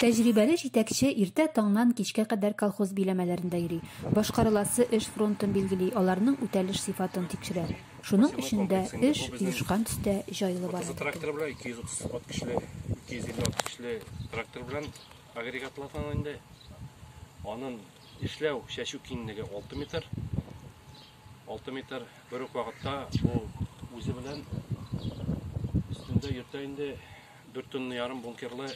Тәҗрибәле җитәкче иртә таңнан кичкә кадәр колхоз биләмәләрендә йөри, башкарыласы эш фронтын билгели, аларның үтәлеш сыйфатын тикшерә. Шуның өчен дә эш оешкан төстә, җайлы бара, диде ул. Алты метр бер үк вакытта бу үзе белән өстендә йөртә инде дүрт тонна ярым бункерлы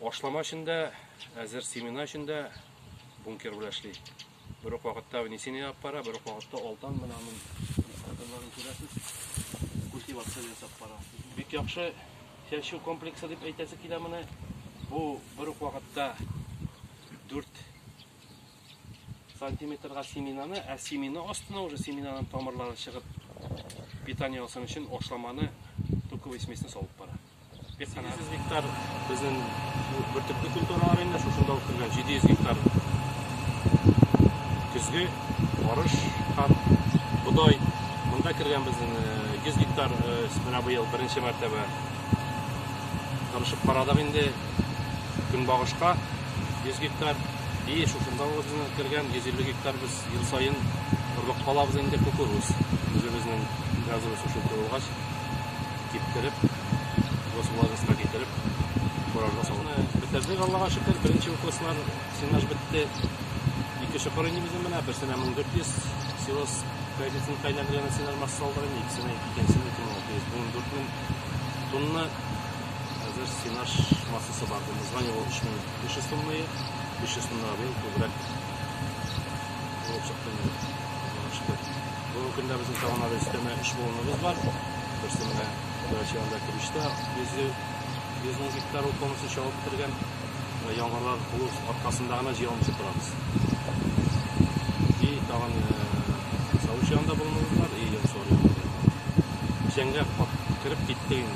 ашлама эчендә, әзер семена эчендә бункер белән эшли. Бер үк вакытта внесение алып бара, бер үк вакытта алдан менә аның инструкторларын күрәсез. Культивация ясап бара. Бик яхшы чәчү комплексы дип әйтәсе килә моны. Бу бер үк вакытта дүрт сантиметрга семенаны, ә семена астына уже семенаның тамырлары чыгып питание алсын өчен ашламаны туковый смесьне салып бара. 800 гектар безнең бөртекле культуралар инде шушында үткәргән 700 гектар көзге арыш һәм бодай монда кергән безнең 100 гектар менә быел беренче мәртәбә тырышып карадык инде көнбагышка 100 гектар, и шушында үзенең кергән 150 гектар без ел саен орлык калабыз инде кукуруз. Үзебезнең газовый сушилка булгач, киптереп, госвлажеска китереп, фуражга салып. Бетердек, Аллага шөкер, беренче укослар сенаж бетте. Ике чокыр инде безнең менә, берсенә 1400 силос кредитын кайландырган сенаж масса салдырган, икесенә 2600, 14 мең тонна Хәзер сенаж массасы бар. Бу название ул 3500 тоннае. 500 тоннага быел күбрәк булып чыкты инде. Аллага шөкер. Бүгенге көндә безнең тагын әле өстәмә 3 баллоныбыз бар. Берсе менә Грачианда Килештә 100 100 мең гектар ул полностью чабып бетергән. Менә яңгырлар булу аркасында гына җыя алмыйча торабыз. И тагын Савучианда баллоныбыз бар, и Янсуар янында. Печәнгә кат- кереп киттек инде.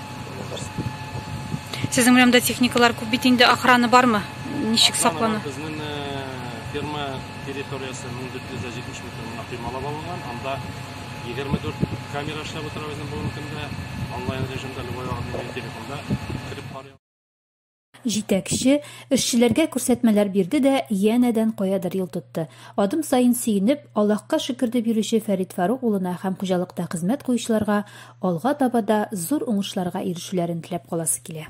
Сезнең урамда техникалар күп бит инде, охрана бармы? Ничек саклана? Безнең э, ферма территориясе 1470 метр мына кыймалап алынган. Анда 24 камера эшләп утыра безнең бүгенге көндә. Онлайн режимда любой вакыт телефонда кереп карый. Җитәкче, эшчеләргә күрсәтмәләр бирде дә янәдән каядыр юл тотты. Адым саен сөенеп, Аллаһка шөкер дип йөрүче Фәрит Фарук улына һәм хуҗалыкта хезмәт куючыларга алга таба да зур уңышларга ирешүләрен теләп каласы килә.